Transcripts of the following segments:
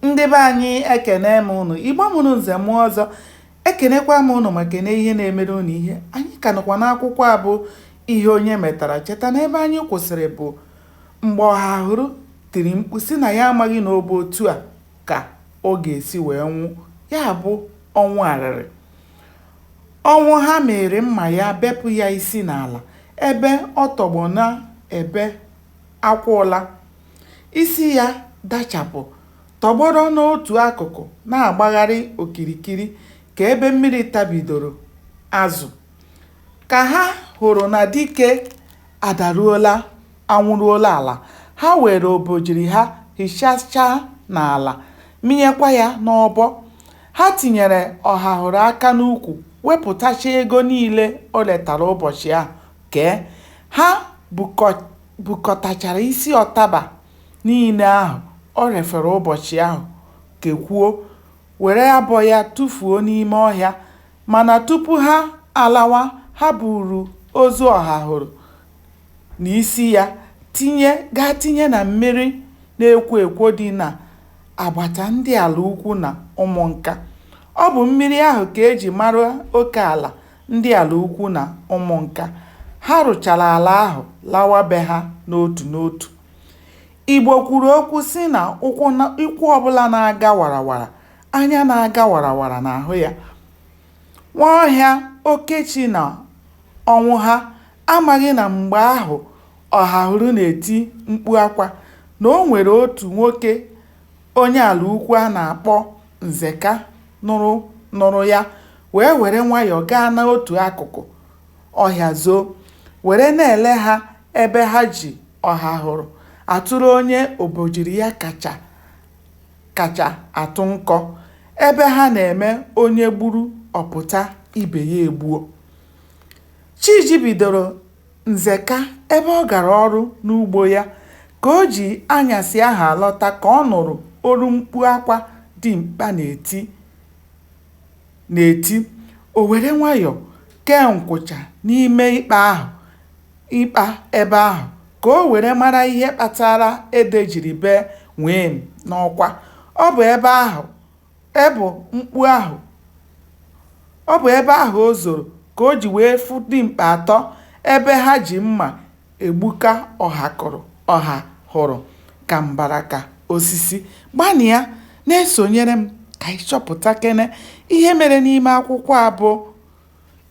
ndị be anyị ekene m ụnụ igbo mụrụ nze mụọ ọzọ ekenekwa m ụnụ ma kene ihe na-emere ụnụ ihe anyị ka nọkwa n'akwụkwọ a bụ ihe onye metara cheta na ebe anyị kwụsịrị bụ mgbe ọhahụrụ tiri mkpu si na ya amaghị na ọ bụ otu a ka ọ ga-esi wee nwụ ya bụ ọnwụ arịrị ọnwụha mịrị mma ya bepụ ya isi n'ala ebe ọ tọgbọ na-ebe akwa ụla Isi ya dachapụ, tọgbọrọ n'otu akụkụ na-agbagharị okirikiri ka ebe mmiri tabidoro azụ. Ka ha hụrụ na dike adaruola, anwụruola ala, ha weere obojiri ha hichachaa n'ala, mịnyekwa ya n'ọbọ. Ha tinyere Ọhahụrụ aka n'ukwu wepụtacha ego niile o retara ụbọchị ahụ kee. Ha bukọ bukọtachara isi ọtaba niile ahụ o refere ụbọchị ahụ kekwuo, were abọ ya tụfuo n'ime ọhịa. Mana tupu ha alawa, ha buuru ozu Ọhahụrụ na isi ya tinye gaa tinye na mmiri na-ekwo ekwo dị n'agbata ndị Alaukwu na Ụmụnka. Ọ bụ mmiri ahụ ka e ji mara oke ala Ndị Alaukwu na Ụmụnka. Ha rụchara ala ahụ lawa be ha n'otu n'otu. Igbo kwuru okwu sị na ụkwụ ọbụla na-aga warawara, anya na-aga warawara na-ahụ ya. Nwaọhịa, Okechi na Ọnwụha amaghị na mgbe ahụ Ọhahụrụ na-eti mkpu akwa na o nwere otu nwoke onye Alaukwu a na-akpọ Nzeka. nụrụ ya wee were nwayọọ gaa n'otu akụkụ ọhịa zoo were na-ele ha ebe ha ji ọhahụrụ atụrụ onye obojiri ya kacha kacha atụ nkọ ebe ha na-eme onye gburu ọ pụta ibe ya egbuo chi jibidoro Nzeka, ebe ọ gara ọrụ n'ugbo ya. Ka o ji anyasị ahụ alọta ka ọ nụrụ olu mkpu akwa dimkpa na-eti na-eti. O were nwayọọ kee nkwụcha n'ime ikpa ahụ ikpa ebe ahụ ka o were mara ihe kpatara ede jiri bee nwịịm n'ọkwa. Ọ bụ ebe ahụ E bụ mkpu ahụ. Ọ bụ ebe ahụ o zoro ka o ji wee fụ dimkpa atọ ebe ha ji mma egbuka Ọhahụrụ ka mbaraka osisi. Gbanịa na-esonyere m ka anyị chọpụtakene ihe mere n'ime akwụkwọ a bụ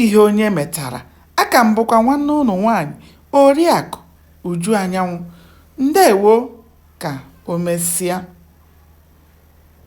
Ihe Onye Metara. Aka m bụkwa nwanne unu nwaanyị Oriakụ Uju Anyanwụ. Ndewo ka o mesịa.